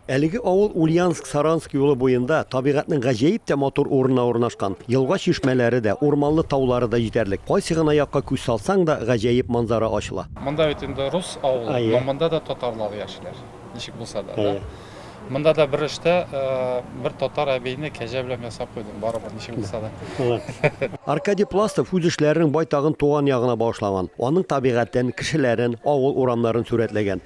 Әлеге авыл Ульяновск-Саранск юлы буенда, табигатьнең гаҗәеп тә матур урынына урнашкан. Елга-чишмәләре дә, урманлы таулары да җитәрлек. Кайсы гына якка күз салсаң да, гаҗәеп манзара ачыла. Монда бит инде рус авылы, но монда да татарлар яшиләр, ничек булса да, да. Монда да бер эштә бер татар әбине кәҗә белән ясап куйдым, барыбер, ничек булса да. Аркадий Пластов үз эшләренең байтагын туган ягына багышлаган. Аның табигатен, кешеләрен, авыл урамнарын сурәтләгән.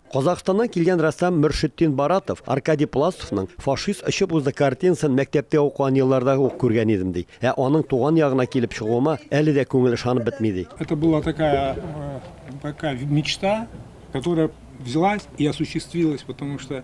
Казахстаннан килгән рәссам Мөршетдин Баратов Аркадий Пластовның Фашист очып узды картинасын мәктәптә укыган елларда ук күргән идем, ди. Ә аның туган ягына килеп чыгуыма әле дә күңел ышанып бетми, ди. Это была такая, такая мечта, которая взялась и осуществилась, потому что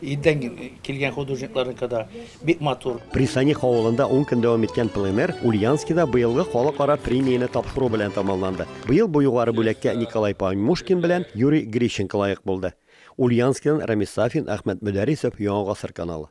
Илдән килгән художникларныкы да бик матур. Присаних авылында ун көн дәвам иткән пленэр Ульянскида быелгы халыкара премияне тапшыру белән тәмамланды. Быел бу югары бүләккә Николай Паньмушкин белән Юрий Грищенко лаек булды. Ульянскидан Рамис Сафин, Әхмәт Мөдәрисов, Яңа гасыр каналы.